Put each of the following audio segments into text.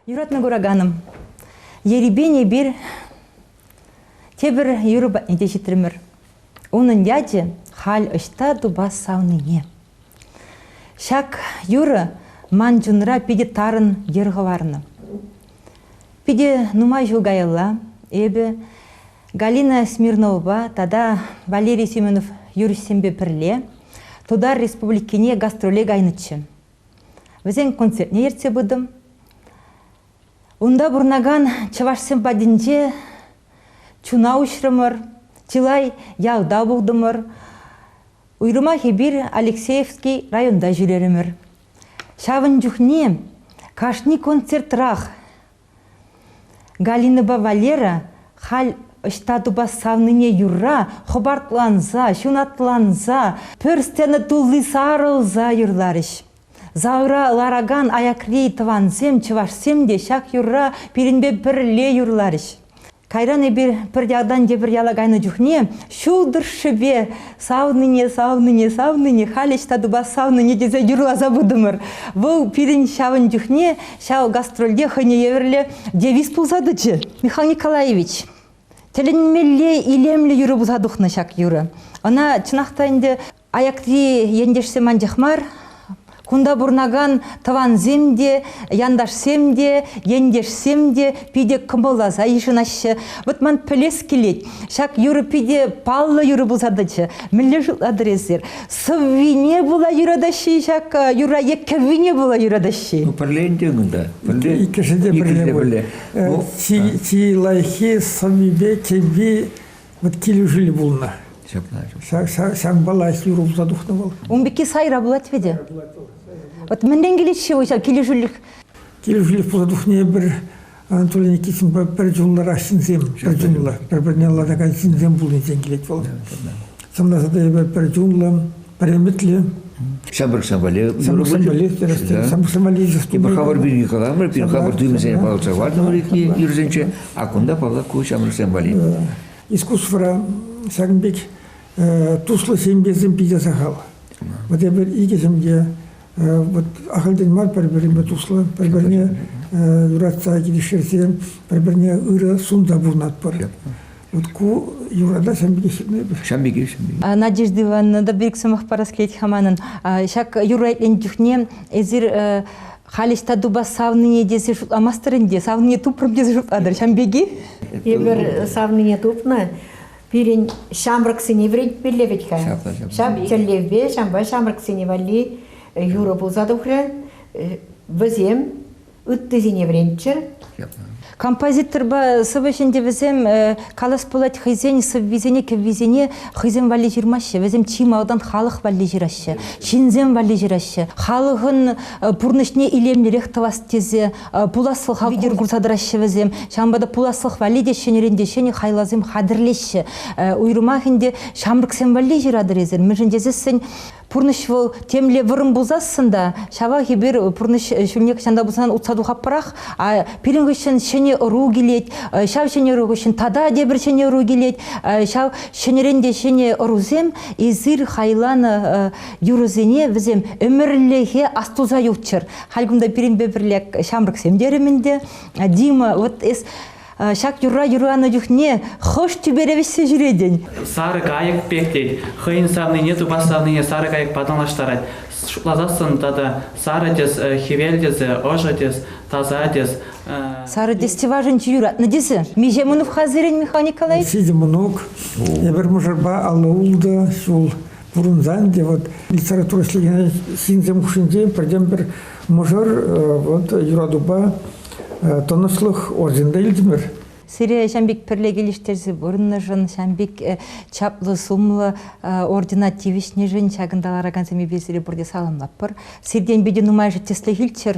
Юратнӑ кураканӑм, ерипен эпир тепӗр юрӑ патне те ҫитрӗмӗр. Унӑн ячӗ халь ӑҫта тупас савнине. Ҫак юрӑ ман чунра питӗ тарӑн йӗр хӑварнӑ. Питӗ нумай ҫул каялла эпӗ Галина Смирновӑпа тата Валерий Семенов юрӑҫсемпе пӗрле Тутар Республикине гастроле кайнӑччӗ. Вӗсен концертне ертсе пытӑм. Унта пурӑнакан чӑвашсем патӗнче чуна уҫрӑмӑр, чылай ялта пултӑмӑр. Уйрӑмах эпир Алексеевский районта ҫӳрерӗмӗр. Ҫавӑн чухне кашни концертрах Галинӑпа Валера халь ӑҫта тупас савнине юрра хӑпартланса, ҫунатланса, пӗр сцена тулли сарӑлса юрларӗҫ. Залра ларакан аякри тӑвансем, чӑвашсем те ҫак юрра пирӗнпе пӗрле юрларӗҫ. Кайран эпир пӗр ялтан тепӗр яла кайнӑ чухне ҫул тӑршшӗпе савнине, савнине, савнине, халь ӑҫта тупас савнине тесе юрласа пытӑмӑр. Вӑл пирӗн ҫавӑн чухне ҫав гастрольте хӑйне евӗрлӗ девиз пулса тӑчӗ. Михаил Николаевич, тӗлӗнмелле илемлӗ юрӑ пулса тухнӑ ҫак юрӑ. Ӑна чӑнах та ӗнтӗ Аякри ентешсем анчах мар, кунта пурӑнакан тӑвансем те, янташсем те, ентешсем те питӗ кӑмӑлласа йышӑнаҫҫӗ. Вӑт ман пӗлес килет, ҫак юрӑ питӗ паллӑ юрӑ пулса тӑчӗ. Мӗнле шутлатӑр эсир? Сӑввине пула юратаҫҫӗ-и ҫак юрра е кӗввине пула юратаҫҫӗ-и? Ну, пӗрле ӗнтӗ кунта. Пӗрле. Иккӗшин те пӗрле пулӗ. Чи лайӑххи сӑввипе кӗвви Вот килӗшӳллӗ пулнӑ. Ҫапла. Ҫакӑнпала юр улса тухнӑ вӑл. Ун пекки сайра пулать веде. Вот мӗнрен килет-ши ҫав килӗшӳлӗх? Килӗшӳлӗх пулса тухни пӗр Анатолий Никитинпа пӗр чунлӑрах ҫынсем, пӗр чунлӑ, пӗр-пӗрне латакан ҫынсем пулнисем килет вӑл. Сӑмласа та эпӗ пӗр чунлӑ, Премӗтлӗ. Самбыр самолет. Самбыр самолет, самбыр самолет. Типа хавар бюни халамыр, пин хавар дюмисене палӑрса вартӑмӑр юрсенче, а кунта паллах ку самбырсем вали. Искусствора сагынбек туслӑ семьесем питӗ сахал. Вот эпир икӗ семье вот ахальтен мар пӗр-пӗринпе туслӑ, пӗр-пӗрне юратса килӗштерсе, пӗр-пӗрне ырӑ сунта пурӑнатпӑр. Вот ку юрана ҫам пекех ҫырмайпӑр. Ҫам пекех ҫырмайпӑр. Надежда Ивановна, та бик сӑмах парас килет ха манӑн. Ҫак юра итленӗ чухне эсир халь ӑҫта тупас савнине тесе шутламастӑр ӗнтӗ? Савнине тупрӑм тесе шутлатӑр ҫам пекех? Эпир савнине тупнӑ пирӗн ҫамрӑксене вӗрентмелле вӗт-ха. Ҫав тӗллевпе ҫампа ҫамрӑксене валли юрӑ пулса тухрӗ. Вӗсем ыттисене вӗренччӗр. Композиторпа сӑвӑ ҫӗнти вӗсем э, калас пулать хӑйсен сӑввисене кӗввисене хӑйсем валли ҫырмаҫҫӗ. Вӗсем чи малтан халӑх валли ҫыраҫҫӗ, ҫынсем валли ҫыраҫҫӗ. Халӑхӑн э, пурнӑҫне илемлӗрех тӑвас тесе э, пуласлӑх витӗр курса тӑраҫҫӗ вӗсем. Ҫавӑнпа та пуласлӑх валли те ҫӗнӗрен те ҫӗнӗ хайлавсем хатӗрлеҫҫӗ. Уйрӑмах ӗнтӗ ҫамрӑксем валли ҫыратӑр эсир, мӗншӗн тесессӗн Пурнӑҫ вӑл темле вӑрӑм пулсассӑн та, ҫавах эпир пурнӑҫ ҫулне хӑҫан та пулсан утса тухатпӑрах. А пирӗн хыҫҫӑн ҫӗнӗ ӑру килет, ҫав ҫӗнӗ ӑру хыҫҫӑн тата тепӗр ҫӗнӗ ӑру килет. Ҫав ҫӗнӗрен те ҫӗнӗ ӑрусем эсир хайланӑ юрӑсене вӗсем ӗмӗрлӗхе астуса юлччӑр. Халь кунта пирӗнпе пӗрле ҫамрӑксем терӗм ӗнтӗ. Дима, вот эс ҫак юрра юрланӑ чухне хӑш тӳпере вӗҫсе ҫӳретӗн? Сарӑ кайӑк пек тет. Хӑйӗн савнине, тупас савнине сарӑ кайӑк патӑнлаштарать. Шутласассӑн тата сарӑ тӗс, хӗвел тӗсӗ, ӑшӑ тӗс, таса тӗс. Сарӑ тӗс чӑвашӗнче юратнӑ тӗсӗ. Миҫе Мунов-ха сирӗн, Михаил Николаевич? Ҫичӗ мӑнук. Эпир мӑшӑрпа алӑ ултӑ ҫул пурӑнсан те вот литература ӗҫлекенсен ҫынсем хушшинче пӗртен-пӗр мӑшӑр вот юратупа тӑнӑҫлӑх орденда илтӗмӗр. Сире Ҫампик пӗрле килӗштерсе пурӑннӑшӑн, Ҫампик чаплӑ-сумлӑ ордена тивӗҫнӗшӗн ҫакӑнта ларакансемпе сире пурте саламлатпӑр. Сиртен питӗ нумайӑшӗ тӗслӗх илччӗр.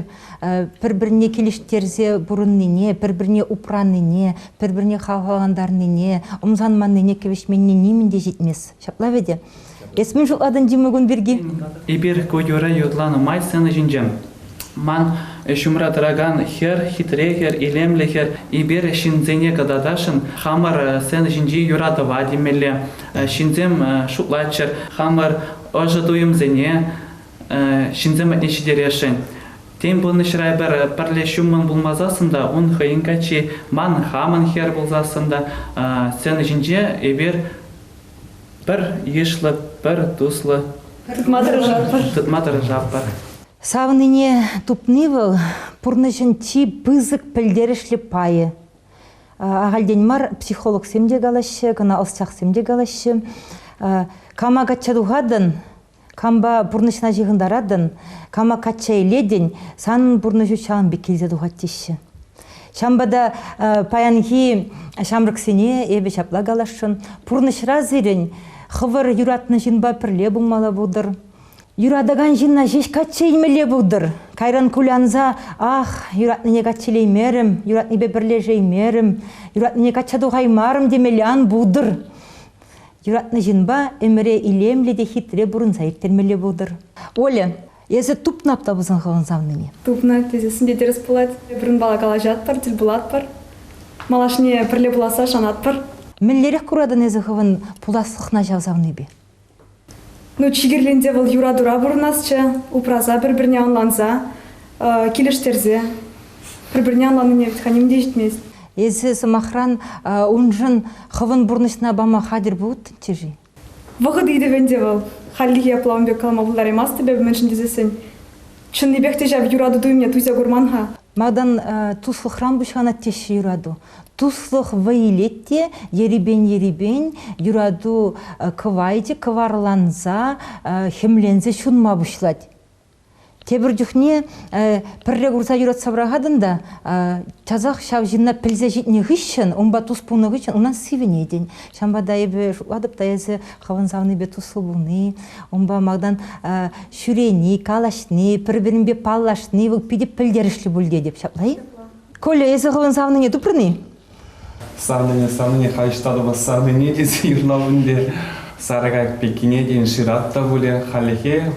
Пӗр-пӗрне килӗштерсе пурӑннине, пӗр-пӗрне упранине, пӗр-пӗрне хавхалантарнине, ӑмсанманнине кӗвӗҫменни нимӗн те ҫитмест. Ҫапла вӗт-и? Эс мӗн шутлатӑн, Дима кун пирки? Эпир культура юрланӑ май сцена ҫинче ман ҫумра тӑракан хӗр, хитре хӗр, илемлӗ хӗр, эпир ҫынсене кӑтартасшӑн. Хамӑр сцена ҫинчи юратӑва тимлемелле. Ҫынсем шутлаччӑр, хамӑр ӑшӑ туйӑмсене ҫынсем патне ҫитересшӗн. Тен, пурнӑҫра пӗр пӗрле ҫуммӑн пулмасассӑн та, ун хӑйӗн каччи, ман хамӑн хӗр пулсассӑн та, сцена ҫинче эпир Пӗр йышлӑ, пӗр туслӑ. Тытма тӑрӑшатпӑр. Тытма тӑрӑшатпӑр. Савнине тупни вӑл, пурнӑҫӑн чи пысӑк пӗлтерӗшлӗ пайӗ. Ахальтен мар психологсем те калаҫҫӗ, кӑна ӑсчахсем те калаҫҫӗ. Кама качча тухатӑн, кампа пурнӑҫна ҫыхӑнтаратӑн, кама качча илетӗн, санӑн пурнӑҫу ҫавӑн пек килсе тухать теҫҫӗ. Ҫавӑнпа та паянхи ҫамрӑксене эпӗ ҫапла каласшӑн, пурнӑҫра сирӗн хӑвӑр юратнӑ ҫынпа пӗрле пулмалла пултӑр. Юратакан ҫынна ҫеҫ качча илмелле пултӑр. Кайран кулянса «Ах, юратнине качча илеймерӗм, юратнипе пӗрлешеймерӗм, юратнине качча тухаймарӑм» темелле ан пултӑр. Юратнӑ ҫынпа ӗмӗре илемлӗ те хитре пурӑнса ирттермелле пултӑр. Оля, эсӗ тупнап та пулсан хӑвӑн савнине. Тупнап тесессӗн тӗрӗс пулать. Эпир калаҫатпӑр, тӗл пулатпӑр. Малашне пӗрле пуласса шанатпӑр. Мӗнлерех куратӑн эсӗ хӑвӑн пуласлӑхна ҫав савнипе? Ну, чикӗрленсе вӑл юратура пурӑнасчӗ, упраса пӗр-пӗрне ӑнланса, килӗштерсе, пӗр-пӗрне ӑнланнине вӗт-ха ним те ҫитмест. Эсӗ, сӑмахран, уншӑн хӑвӑн пурнӑҫна пама хатӗр пулӑттӑн-ччӗ-ши? Вӑхӑт ыйтӑвӗ ӗнтӗ вӑл. Хальлӗхе апла ун пек калама пултараймастӑп эпӗ, мӗншӗн тесессӗн чӑннипех те ҫав юрату туйӑмне туйса курман-ха. Малтан туслӑхран пуҫланать теҫҫӗ юрату. Туслӑх вӑй илет те ерипен-ерипен юрату кӑвайчӗ кӑварланса, хӗмленсе ҫунма пуҫлать. Тепӗр чухне пӗрре курса юратса пӑрахатӑн та часах ҫав ҫынна пӗлсе ҫитнӗ хыҫҫӑн, унпа тус пулнӑ хыҫҫӑн унан сивӗнетӗн. Ҫавӑнпа та эпӗ шутлатӑп та эсӗ хӑвӑн савнипе туслӑ пулни, унпа малтан ҫӳрени, калаҫни, пӗр-пӗринпе паллашни вӑл питӗ пӗлтерӗшлӗ пуль тетӗп. Ҫапла-и? Коля, эсӗ хӑвӑн савнине тупрӑн-и? Савнине, савнине халь ҫтатӑпа савнине тесе йышна пулин сарӑ кайӑк пеккине тен шырат та пулӗ. Хальлӗхе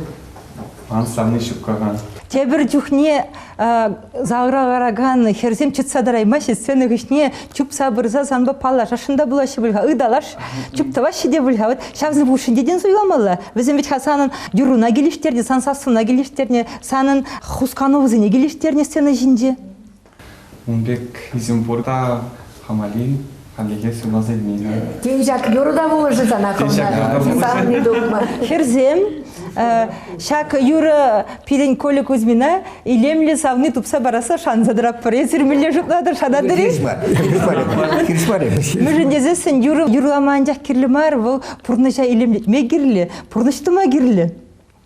ман савни ҫуккахан. Тепӗр чухне завра ларакан хӗрсем чӑтса тӑраймаҫҫӗ, сцена хыҫне чупса пырса санпа паллашасшӑн та пулаҫҫӗ пуль-ха, ыталаш, чуптаваҫҫӗ те пуль-ха. Вӑт ҫавсем хушшинче тен суйламалла? Вӗсем вӗт-ха санӑн юрруна килӗштернӗ, сан сассуна килӗштернӗ, Санӑн хусканӑвӑсене килӗштернӗ сцена ҫинче? Ун пек изюм пурта хамали хальлӗхе сывласа илмеймӗн. Тен, ҫак юрӑ та пулӑшӗ сана комната? Савни тупма. Хӗрсем, ҫак юрӑ пирӗн Коля Кузьмина илемлӗ савни тупса парасса шанса тӑратпӑр. Эсир мӗнле шутлатӑр, шанатӑр-и? Хирӗҫ мар эпӗ. Мӗншӗн тесессӗн юрӑ юрлама анчах кирлӗ мар, вӑл пурнӑҫа илемлетме кирлӗ, пурнӑҫ тума кирлӗ.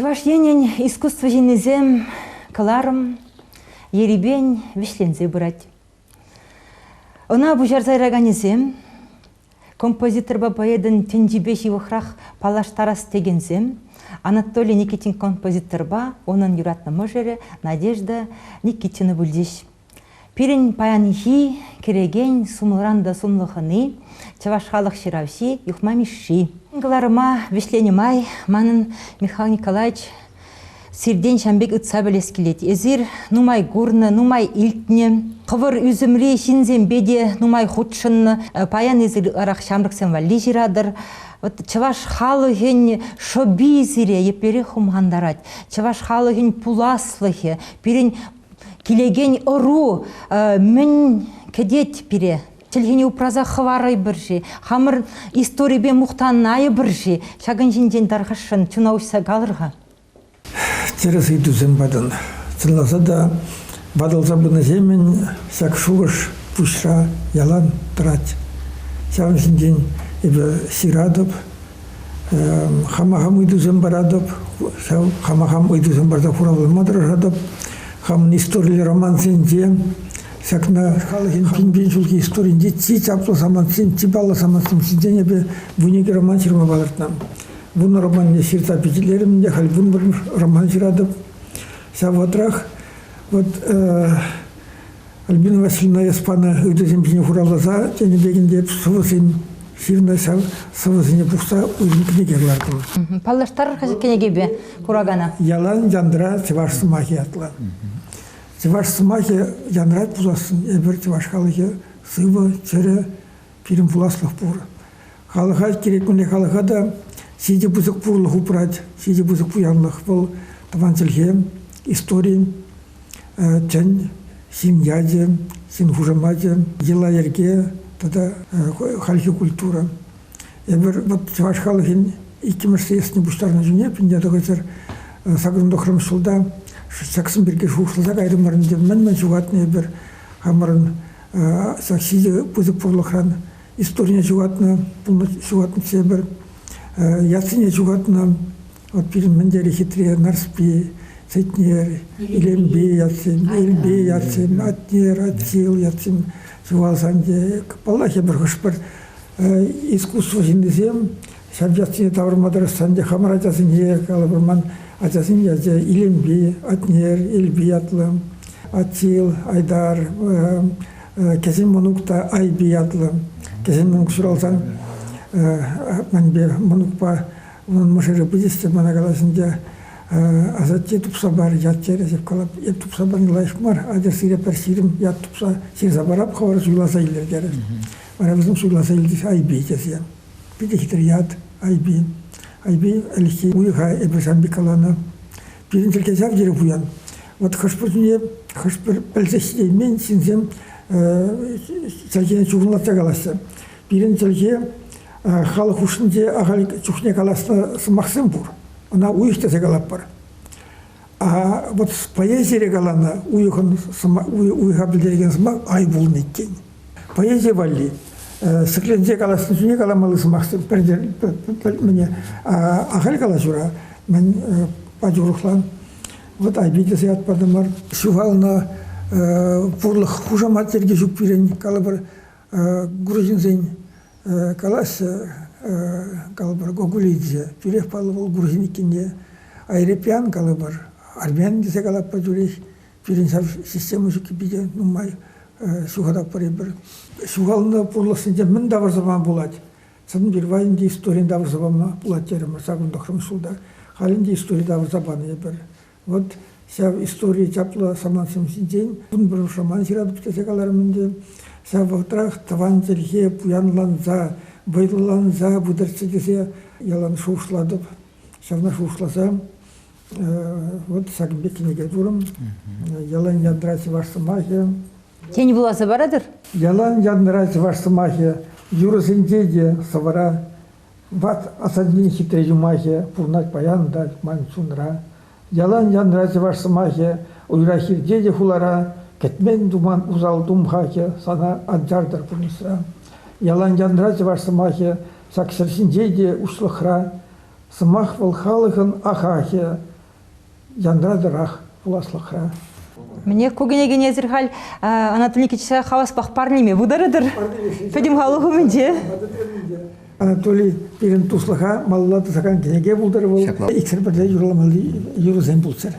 Чӑваш Енӗн искусство ҫыннисем кӑларӑм ерипен вӗҫленсе пырать. Ӑна пуҫарса яраканӗсем композиторпа поэтӑн тӗнчипе ҫывӑхрах паллаштарас текенсем Анатолий Никитин композиторпа унӑн юратнӑ мӑшӑрӗ Надежда Никитина пулчӗҫ. Пирӗн паянхи кӗрекен сумлӑран та сумлӑ хӑни, чӑваш халӑх ҫыравҫи Юхма Мишши. Кӑларӑма вӗҫленӗ май манӑн Михаил Николаевич сиртен ҫам пек ытса пӗлес килет. Эсир нумай курнӑ, нумай илтнӗ, хӑвӑр ӳсӗмри ҫынсемпе те нумай хутшӑннӑ. Э, Паян эсир ытларах ҫамрӑксем валли ҫыратӑр. Вот чӑваш халӑхӗн шӑпи сире еплерех хумхантарать. Чӑваш халӑхӗн пуласлӑхӗ, пирӗн Килекен ӑру мӗн кӗтет пире? Чӗлхене упраса хӑварӑпӑр-ши? Хамӑр историпе мухтанайӑпӑр-ши? Ҫакӑн ҫинчен тархасшӑн чуна уҫса калӑр-ха. Тӗрӗс ыйтусем патӑн. Чӑнласа та, ватӑлса пынӑҫемӗн ҫак шухӑш пуҫра ялан тӑрать. Ҫавӑн ҫинчен эпӗ ҫыратӑп, Хама хам ыйтусем паратӑп, ҫав хама хам ыйтусем парса хуравлама тӑрӑшатӑп. Хамӑн историллӗ романсенче ҫакна халӑхӗн пин ҫулхи историйӗнче чи чаплӑ самантсем, чи паллӑ самантсем ҫинчен эпӗ вуникӗ роман ҫырма палӑртнӑ. Вунӑ романне ҫырса пичетлерӗм те халь вунпӗрмӗш роман ҫыратӑп. Ҫав вӑхӑтрах вот Альбина Васильевна эс панӑ ыйтусем ҫине хуравласа тенӗ пекӗн те сӑвӑсен ҫырнӑ ҫав сӑвӑсене пухса уйрӑм кӗнеке кӑлартӑмӑр. Паллаштарӑр-ха ҫак кӗнекепе куракана. Ялан янра чӑваш сӑмахӗ ятлӑ. Чӑваш сӑмахӗ янрать пулассӑн эпир чӑваш халӑхӗ сывӑ, чӗрӗ, пирӗн пуласлӑх пур. Халӑха кирек-мӗнле халӑха та ҫичӗ пысӑк пурлӑх упрать, ҫичӗ пысӑк пуянлӑх вӑл тӑван чӗлхе, истори, тӗн, ҫын ячӗ, ҫын хушамачӗ, йӑла-йӗрке тата хальхи культура. Эпир вот чӑваш халӑхӗн иккӗмӗш съездне пуҫтарнӑ чухне пинне тӑхӑҫӑр сакӑрӑн тӑхрӑмӗш ҫулта ҫаксем пирки шухӑшласа кайрӑмӑр ӗнтӗ. Мӗн-мӗн ҫухатнӑ эпир хамӑрӑн ҫак ҫичӗ пысӑк пурлӑхран историне ҫухатнӑ, пулнӑ ҫухатнӑ тепӗр, яшсене ҫухатнӑ. Вот пирӗн мӗн тери хитре Нарспи, Сетнер, Илемпи ятсем, Элпи ятсем, Атнер, Атҫил ятсем ҫухалсан те, паллах, эпир хӑш-пӗр искусство ҫыннисем Ҫав ячне тавӑрма тӑрӑшсан те хамӑр ачасене кала вырман ачасен ячӗ Илемпи, Атнер, Элпи ятлӑ, Атил, Айдар, кӗҫӗн мӑнук та Айпи ятлӑ. Кӗҫӗн мӑнук ҫуралсан манпе мӑнукпа унӑн мӑшӑрӗ пӗтӗҫ те мана калаҫӑнчӗ, асатте тупса пар ят терӗ. Эп калап, эп тупса парни лайӑх мар, атьӑр сире пӗр ҫирӗм ят тупса ҫырса парап, хӑвӑр суйласа илӗр терӗ. Вара вӗсем суйласа илчӗҫ Айпи тесе. Питӗхтӗр ят Айпи. Айпи ӗлӗкхи уйӑха эпӗ шампи каланӑ. Пирӗн тӗлке ҫав тери пуян. Вӑт хӑш-пӗр чухне хӑш-пӗр пӗлсех ҫитеймен ҫынсем чӗлхене чухӑнлатса калаҫҫӗ. Пирӗн чӗлхе халӑх хушшинче ахаль чухне каласнӑ сӑмахсем пур. Ӑна уйӑх тесе калатпӑр. А вот с поэзией каланӑ уйӑхӑн уйӑха пӗлтерекен сӑмах ай пулнӑ иккен. Поэзи валли ҫӗкленсе калаҫнӑ чухне каламалли сӑмахсем пӗлтерет мне. Ахаль калаҫура мен пачӗ урӑхлан вот айпите сият падымар ҫухалнӑ пурлӑх хушамат йӗрке ҫук пирӗн калӑпӑр грузинсен калаҫҫӗ, калӑпӑр, Гогулидзе. Тӳрех паллӑ вӑл грузин иккенне. Айрепьян калӑпӑр, армян тесе калатпӑр тӳрех. Пирӗн ҫав система ҫукки питӗ нумай ҫухататпӑр эпир. Ҫухалнӑ пурлӑхсенче мӗн тавӑрса пама пулать? Чӑн пирвай ӗнтӗ историн тавӑрса пама пулать терӗмӗр ҫакӑн тӑхрӑмӗш ҫулта. Халь ӗнтӗ истори тавӑрса панӑ эпир. Вот ҫав истори чаплӑ самантсем ҫинчен кун роман ҫыратӑп тесе каларӑм ӗнтӗ. Ҫав вӑхӑтрах тӑван чӗлхе пуянланса, вӑйлӑланса пытӑрччӗ тесе ялан шухӑшлатӑп. Ҫавна шухӑшласа вот ҫакӑн пек кӗнеке турӑм. Ялан янра чӑваш сӑмахӗ. Тен вуласа паратӑр? Ялан янра чӑваш сӑмахӗ юрӑсенче те сӑвӑра Ват асаннен хитре юмахӗ пурӑнать паян та ман чунра. Ялан янра чӑваш сӑмахӗ, уйрах ирте те хулара, кӗтмен туман усал тумхахӗ сана ан чартӑр пурнӑҫра. Ялан янра чӑваш сӑмахӗ ҫак ҫӗр ҫинче те уҫлӑхра. Сӑмах вӑл халӑхӑн ахахӗ, Янратӑрах пуласлӑхра. Мне ку кӗнекенесӗр халь Анатолий Никитича хаваспах парнеме пултарӑтӑр. Пӗтӗм халӑх умӗнче. Анатолий пирӗн туслӑха малалла тӑсакан кӗнеке пултӑр вӑл. Иксӗр пӗрле юрламалли юрӑсем пулччӑр.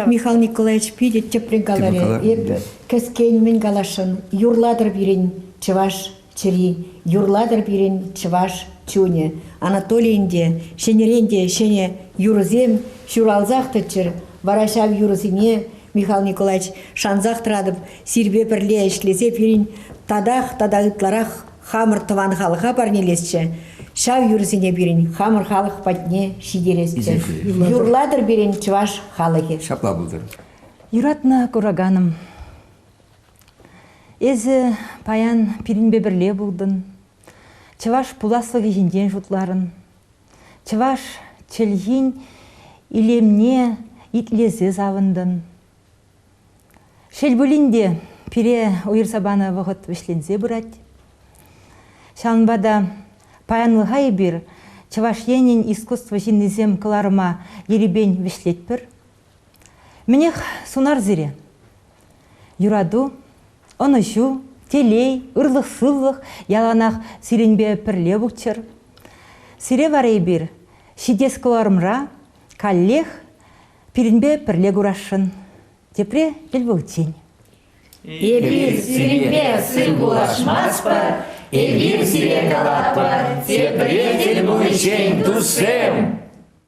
Михаил Николаевич питӗ тӗплӗн каларӗ. Эпӗ кӗскен мӗн каласшӑн. Юрлатӑр пирӗн чӑваш чӗри. Юрлатӑр пирӗн чӑваш чунӗ. Анатолийӗн те, ҫӗнӗрен те ҫӗнӗ юрӑсем ҫуралсах тӑччӑр. Вара ҫав юрӑсене, Михаил Николаевич, шансах тӑратӑп, сирпе пӗрле ӗҫлесе пирӗн татах тата ытларах хамӑр тӑван халӑха парнелесчӗ. Ҫав юрӑсене пирӗн хамӑр халӑх патне ҫитересчӗ. Юрлатӑр пирӗн чӑваш халӑхӗ. Ҫапла пултӑр. Юратнӑ кураканӑм, Эсӗ паян пирӗнпе пӗрле пултӑн, чӑваш пуласлӑхӗ ҫинчен шутларӑн. Чӑваш чӗлхин илемне итлесе савӑнтӑн. Шел пулин те, пире уйӑрса панӑ вӑхӑт вӗҫленсе пырать. Ҫавӑнпа та паянлӑха эпир Чӑваш Енӗн искусство ҫыннисем кӑларӑма ерипен вӗҫлетпӗр. Мӗнех, сунар сире. Юрату, ӑнӑҫу, телей, ырлӑх-сывлӑх яланах сирӗнпе пӗрле пулччӑр. Сире вара эпир ҫитес кӑларӑмра каллех пирӗнпе пӗрле курасшӑн. Тепре тӗл пуличчен. Эпир сирӗнпе сыр пулашмастпӑр, эпир сире калатпӑр, тепре тӗл пуличчен, туссем!